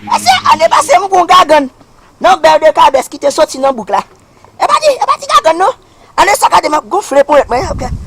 Mesye, ane pase m kon gagann nan bèl de kabès ki te soti nan bouk la. E pa ti, e pa ti gagann non. Ane sa gade m ap gonfle ponyèt mwen.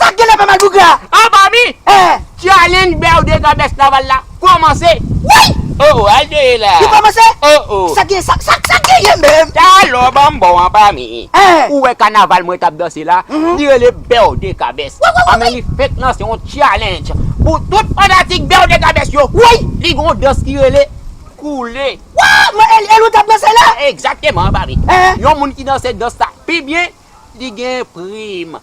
Sak genlè fè mal bougra. An fanmi! Challenge berde ka best laval la komanse! Woy! Oh oh al de la! Li komanse? Oh oh! Sak gen sa sak sak genyen menm? Talo banm bon an fanmi! Ou wè kanaval mwen tap danse la li rele berde ka best! Woy woy woy! Anmè li fenk lanse yon challenge pou tout fanatik berde ka best yo! Woy! Li gen yon dans ki rele koule! Waww! Mwen el el ou tap danse la? Exactement fanmi! Yon moun ki danse dans sa pi byen Li gen prim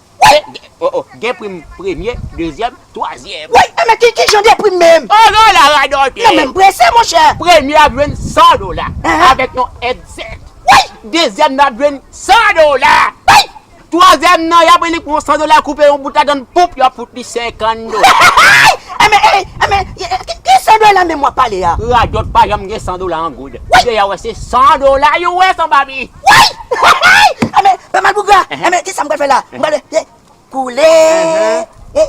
Gen prim premye, dezyèm, twazyèm. Woy! E men ki jan de prim menm? O non la radòtè! Nan menm prese monchè! Premye ap jwenn 100 dola avèk yon èdsèt. Woy! Dezyèm nan ap jwenn 100 dola. Woy! Twazyèm nan y ap li pran 100 dola koupe yon bout ladann poup y ap fout li 50 dola. E men ey! E men ki 100 dola menm w ap pale a? Radòt pa janm gen 100 dola an goud. Woy! Deyò wè se 100 dola yo wè san papi. Woy! Hehey! Anben, pa mal bougra! Anben, kisa m pral fè la? M pral fè, ye, koule, ye,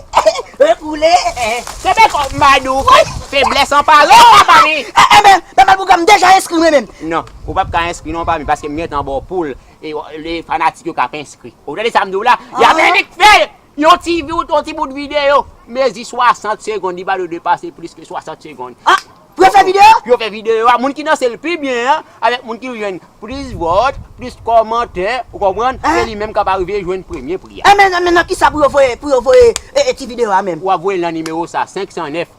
ye, koule, ye. Kenbe kò w Madou! Woy! Feblès an pale w la fanmi! Anben, pa mal bougra m deja enskri mwen menm! Non, ou p ap ka enskri non fanmi paske m gentan ba w poul e fanatik yo k ap enskri. Ou tande sa m di w la? Y ap ennik fè l! Yon ti vi ou t yon ti bout videyo mezi 60 segond li pa dwe depase plis ke 60 segond. Ah! Pou yo fè videyo? Pou yo fè videyo a, moun ki danse l pi byen an avèk moun ki jwenn plis vòt, plis kòmantè, ou konprann, se li menm k ap arive jwenn premye pri a. Enben nan kisa pou yo voye ti videyo a menm? Ou ap voye l nan nimewo sa, 509.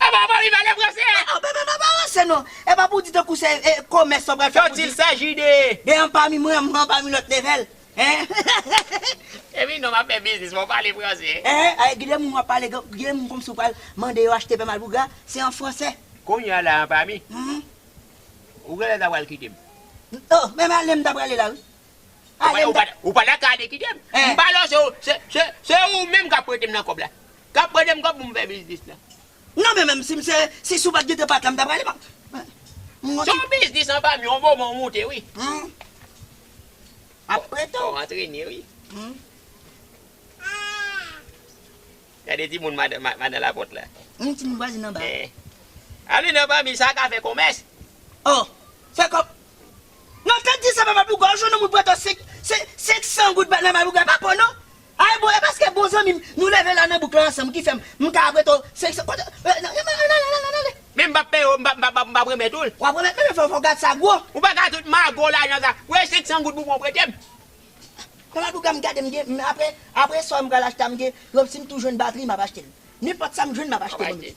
Epa ou pa vin pale fransè a. Epa ou pa ranse non. Epa pou w di tankou se komès sa w pral fè pou w di. Tantil saji de. De anpami mwen an anpami lòt level. Epi non map fè biznis fò w pale fransè. Ehe gen de moun wap pale gen moun komsi w pral mande yo achte pè malpougra se an fransè. Kounye a la anpami. Ou genlè ta pral kite m. Oh men ale m ta prale la wi. Alem ta. Ou pa ta ka ale kitem. M pa lòche ou se ou menm kap pretem nan kòb la. Kap pretem kòb pou m fè biznis la. Non men menm sim se si sou pat gen te pat la m ta prale m ap. Se yon biznis an fanmi yon moman ou moute wi. Ap prete w. Fò w antrene wi. Gade ti moun madan lapòt la. Anyn ti moun vwazin nan ba. Ale nan fanmi sa ka fè komès. Oh! Fè kòb. Nan tèt di sa pa madouga ou jwenn yon moun pran to 500 goud ba nan madouga e pa po non. Ay bon e paske bon zanmim nou leve la nan bouk la ansanm ki fèm m ka pran to 500 kote an ale ale ale ale. Men m pap peye w m pap remèt ou l. Wap remèt men fòw gad sa gwo. Ou pa ka tout mago lajan sa. Wè 500 goud pou bon pretem. Konbyen bouga m gade m gen m apre apre sa m pral achte a m gen yon si m tou jwenn batri m ap achte l nenpòt sa m jwenn m ap achte bonm dieu.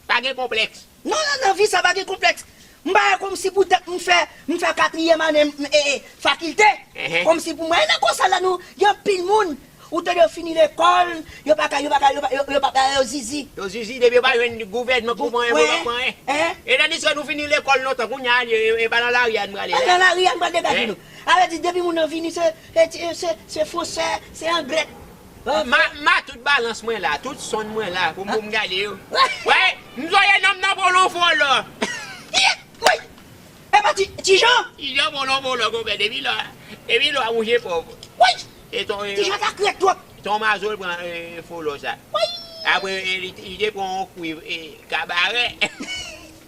Pa gen konplèks. Non non nan vi sa pa gen konplèks m pa wè kòmsi pou tèt m fè m fè katriyèm ane m ee fakilte kòmsi pou mwen e nan kòsa la nou gen anpil moun ou tande yo fini lekòl yo pa ka yo pa ka yo pa yo yo pa ka yo zizi. Yo zizi depi yo pa jwenn gouvènman pou pran pou yo pa pran en e tandiske nou fini lekòl lontan kounya e pa nan lari a n prale la. Nan lari a n pral degaje nou Ala di depi moun nan vini se se fonsè se angrè. Ma tout balans mwen la tout sonn mwen la pou m gade yo wèy m zoye nonm nan volo volo. Woy epa ti jan. Ti jan volo volo konpè depi lò depi lò ou je pòv. Woy ti jan sa krèk twòp. Ton mazo l pran volo sa. Woy. Apre li te pran yon kwiv kabarè.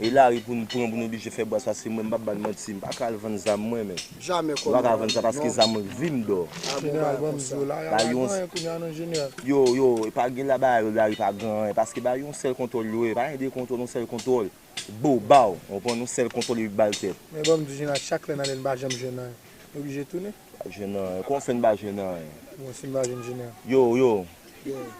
E lari pou nou pran pou nou oblije fè bwàs paske mwen m pap ba n manti m pa ka al vann zam mwen men m pa ka vann sa paske zam mwen k vi m dò. Jeneral banm zo la ya la gen anyen kounya non jeneral. Yo yo epa gen la ba yo lari pa gen anyen paske ba yo yon sèl kontwòl yo ye pa gen de kontwòl yon sèl kontwòl bo baw ou konprann yon sèl kontwòl epi bal tèt. Men banm di jeneral chak lè n ale n pa janm jwenn anyen n oblije tounen. Pa jwenn anyen kòman fè n pa jwenn anyen. Bon si n pa jwenn jeneral. Yo yo. Yo yo.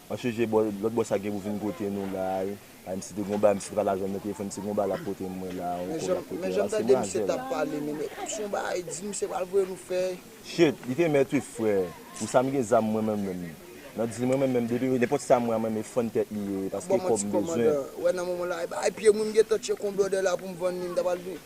An chèche bò lòt bò sa gen pou vin kote nou la. Ay misye te gon bagay misye te pral jwenn nan telefòn se gon bagay lap pote mwen la on kob lap pote la se manzèl. Son bagay di misye pral voye nou fè. Shit li te mèt wi frè pou sa m gen zam mwen menm menm nan dil mwen menm menm depi nenpòt sa m wè a mwen menm e fann tèt li ye paske kòb m bezwen. Bon man ti kòmandan wè nan moman la e bagay pye m wi m gentan tchek on blòdè la pou m vann li m ta pral vin.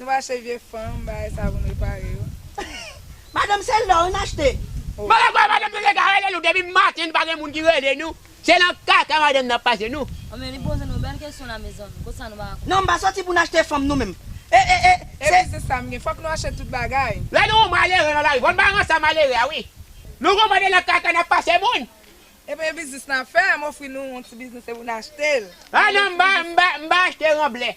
Nou pa achte vye fanm bagay sa pou n repare yo. Madanm se lè wi m achte. Mwen kwè madanm nou lèga rele nou depi maten pa gen moun ki rele nou se nan kaka madanm nan pase nou. Oh men li poze nou bèl kesyon la mezanmi kot sa nou paka konprann. Non m pa soti pou n achte fanm nou menm eh eh eh se. E biznis sa m gen fòk nou achte tout bagay. Lè nou wè yon malere nan lari fò n ba l rançon malere a wi. Nou konprann se nan kaka n ap pase moun. E premye biznis n ap fè a m ofri nou yon ti biznis se pou n achte l. Ah non m pa achte ranblè.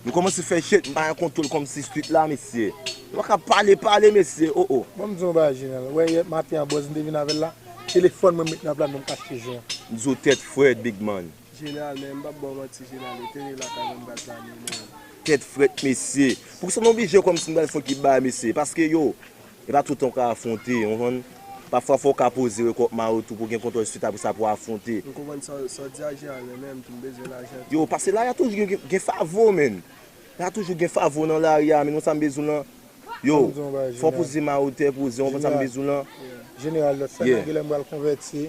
Nou komanse fè jèt, m pa gen kontwol komsi street la mesye. Nou pa ka pale pale mesye oh oh. Bon m di w yon bagay Jeneral, wè yè maten an bòz m te vin avè l la, telefòn mwen m met nan plat mwen m kache je m. M di w tèt frèt big man. Jeneral men m pap ba w manti Jeneral e teren lakay mwen m pral plane men. Tèt frèt mesye. Poukisa nou oblije komsi m pral fon ki bay mesye paske yo E pa tout tan ou ka afwonte, ou konprann? Pafwa fò w ka poze rekòpman yo tou pou w gen kontwòl swit apre sa pou w afwonte. M konprann sa w di a Jean Alain men m tou m bezwen lajan tou. Yo, pase lari a toujou gen favo menn. La toujou gen favo nan lari a menn ou konn sa m bezwen lan? Yo, fò w poze ma ou tè poze ou konprann sa m bezwen lan? Jeneral, lòt fè nan gilè m pral konvèti.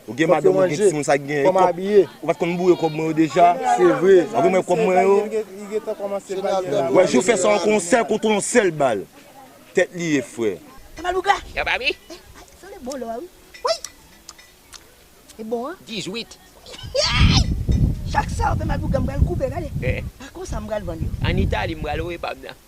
Ou gen madanm ou gen timoun sa ki gen kòb ou pat konn boure kòb mwen yo deja ou gen mwen kòb mwen yo wè jou fè sa ankò yon sèl koton yon sèl bal tèt li ye frè. Yo pa bi? An Itali m pral louwe pam nan.